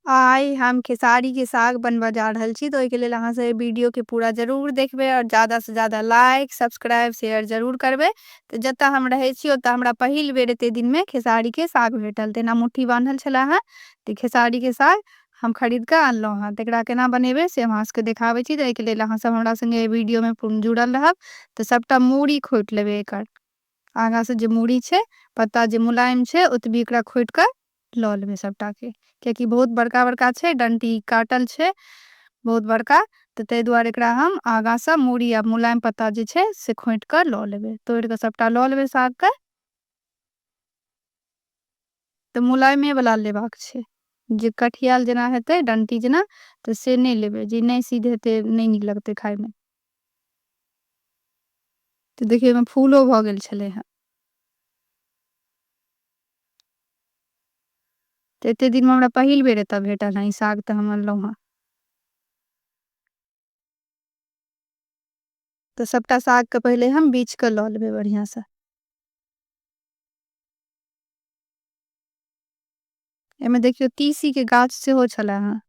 आय हम खेसारी के साग बनबा जा रहल छी तो ओहिके लेल अहाँ सब वीडियो के पूरा जरूर देखबे और ज्यादा से ज्यादा लाइक सब्सक्राइब शेयर जरूर करबे तो जत हम रहे छी ओत हमरा पहिल बेर एते दिन में खेसारी के साग भेटल तेना मुट्ठी बांधल छला है तो खेसारी के साग हम खरीद के आनलो हैं तकरा केना बनेबे से हम अहाँ सबके देखाबे छी तो ओहिके लेल अहाँ सब हमरा संगे वीडियो में पूर्ण जुड़ल रहब तो सबटा मूड़ी खोट लेबे एकर आगा सँ जे मूड़ी छै, पत्ता जे मुलायम छै ओतबी एकरा खोटि कऽ लऽ लेबै सभटा केँ। किएक कि बहुत बड़का-बड़का छै, डंटी काटल छै बहुत बड़का तऽ तइ दुआरे एकरा हम आगा सँ मूड़ी आ मुलायम पत्ता जे छै से खोटि कऽ लऽ लेबै। तोड़ि कऽ सभटा लऽ लेबै साग केँ। तँ मुलायमे बला लेबाक छै। जे कठियाल जेना हेतै, डंटी जेना, तँ से नै लेबै। जे नै सिद्ध हेतै, नै नीक लगतै खाइमे। तँ देखियौ, ओइमे फूलो भऽ गेल छेलै हेँ। तँ एते दिनमे हमरा पहिल बेर एतए भेटल हेँ ई साग तँ हम अनलौं हेँ। तँ सभटा सागकेँ पहिले हम बीछि कऽ लऽ लेबै बढ़ियाँसँ। एमे देखियो तीसी के गाछ सेहो छला हँ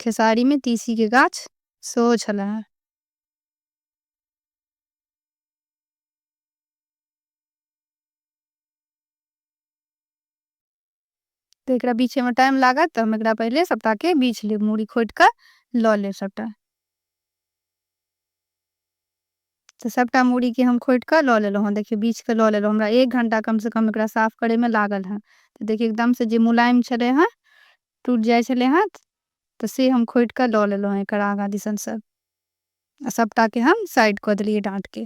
खेसारी में तीसी के गाछ सेहो छला हँ तऽ एकरा बीछयमे टाइम लागत तऽ हम एकरा पहिले सभटाके बीछ लेब मूड़ी खोटि कऽ लऽ लेब सभटा तऽ सभटा मूड़ीके हम खोटि कऽ लऽ लेलहुँ हँ देखियौ बीछ कऽ लऽ लेलहुँ हमरा एक घण्टा कमसँ कम एकरा साफ करयमे लागल हँ तऽ देखियौ एकदमसँ जे मुलायम छलै हँ टूटि जाइ छलै हँ तऽ से हम खोटि कऽ लऽ लेलहुँ हँ एकर आगाँ दिसनसँ आ सभटाके हम साइड कऽ देलियै डाँटके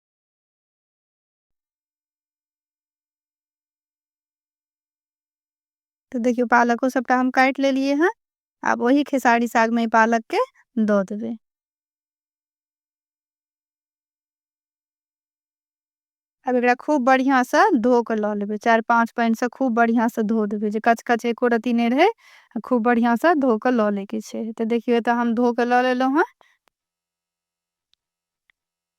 तो देखियो पालको सबटा हम काट ले लिए हैं आप वही खेसारी साग में पालक के दो देवे अब एक खूब बढ़िया से धो के लो लेवे चार पांच पानी से खूब बढ़िया से धो देवे जो कच कच एको रती नहीं रहे खूब बढ़िया से धो के लो लेके तो देखियो तो हम धो के लो ले लो हाँ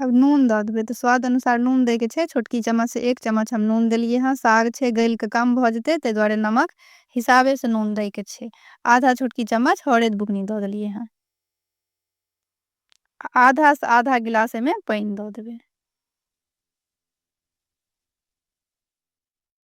अब नून दऽ देबै तऽ स्वाद अनुसार नून दैके छै छोटकी चम्मचसँ एक चम्मच हम नून देलिए हँ साग छै गलिके कम भऽ जेतै ताहि दुआरे नमक हिसाबेसँ नून दैके छै आधा छोटकी चम्मच हरैद बुकनी दऽ देलिए हँ आधासँ आधा गिलास एहिमे पानि दऽ देबै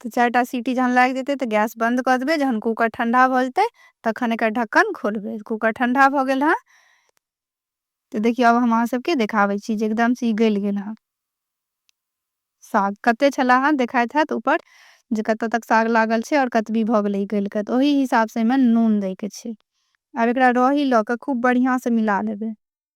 तऽ चारिटा सीटी जहन लागि जेतै तऽ गैस बन्द कऽ देबै जहन कूकर ठण्डा भऽ जेतै तखन एकर ढक्कन खोलबै कूकर ठण्डा भऽ गेल हँ तऽ देखियौ आब हम अहाँसभके देखाबै छी जे एकदमसँ ई गलि गेल हँ साग कते छला हँ देखाइत हैत ऊपर जे कतऽ तक साग लागल छै आओर कतबी भऽ गेलै गलि कऽ तऽ ओही हिसाबसँ एहिमे नून दैके छै आब एकरा रही लऽ कऽ खूब बढ़िआँसँ मिला लेबै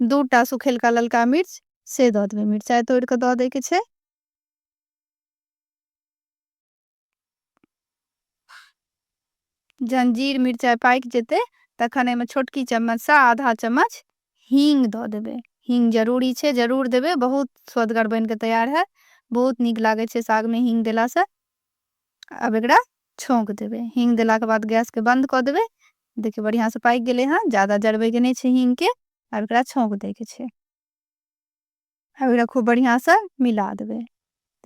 दू टा सुखेलका ललका मिर्च से दऽ देबै मिरचाइ तोड़ि कऽ दऽ दैके छै जहन जीर मिरचाइ पाकि जेतै तखन एहिमे छोटकी चम्मचसँ आधा चम्मच हींग दऽ देबै हींग जरूरी छै जरूर देबै बहुत स्वदगर बनि कऽ तैयार हैत बहुत नीक लागै छै सागमे हींग देलासँ अब एकरा छौंक देबे हींग देला के बाद गैस के बंद क देबे देखिए बढ़िया से पाक गेले हैं ज्यादा जरबे के नहीं छे हींग के अब एकरा छौंक दे के छे अब एकरा खूब बढ़िया से मिला देबे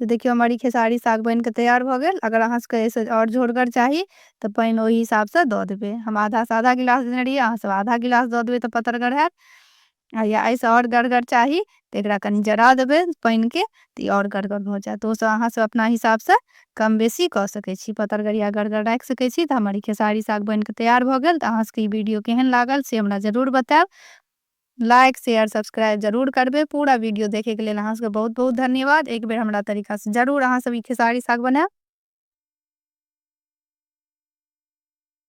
तो देखियो हमारी खेसारी साग बन के तैयार भ गेल अगर अहाँ सबके ऐसे और झोरगर चाहिए तो पानि ओही हिसाब से द देबे हम आधा से आधा गिलास देने रहिए अहाँ सब आधा गिलास द देबे तो पतरगर है आ या एहिसँ आओर गढ़गर चाही तऽ एकरा कनि जरा देबै पानिके तऽ ई आओर गढ़गर भऽ जायत ओसभ अहाँसभ अपना हिसाबसँ कम बेसी कऽ सकै छी पतरगरिया गढ़गर राखि सकै छी तऽ हमर ई खेसारी साग बनि कऽ तैयार भऽ गेल तऽ अहाँसभके ई वीडियो केहन लागल से हमरा जरूर बतायब लाइक शेयर सब्सक्राइब जरूर करबै पूरा वीडियो देखैके लेल अहाँसभके बहुत बहुत धन्यवाद एक बेर हमरा तरीकासँ जरूर अहाँसभ ई खेसारी साग बनायब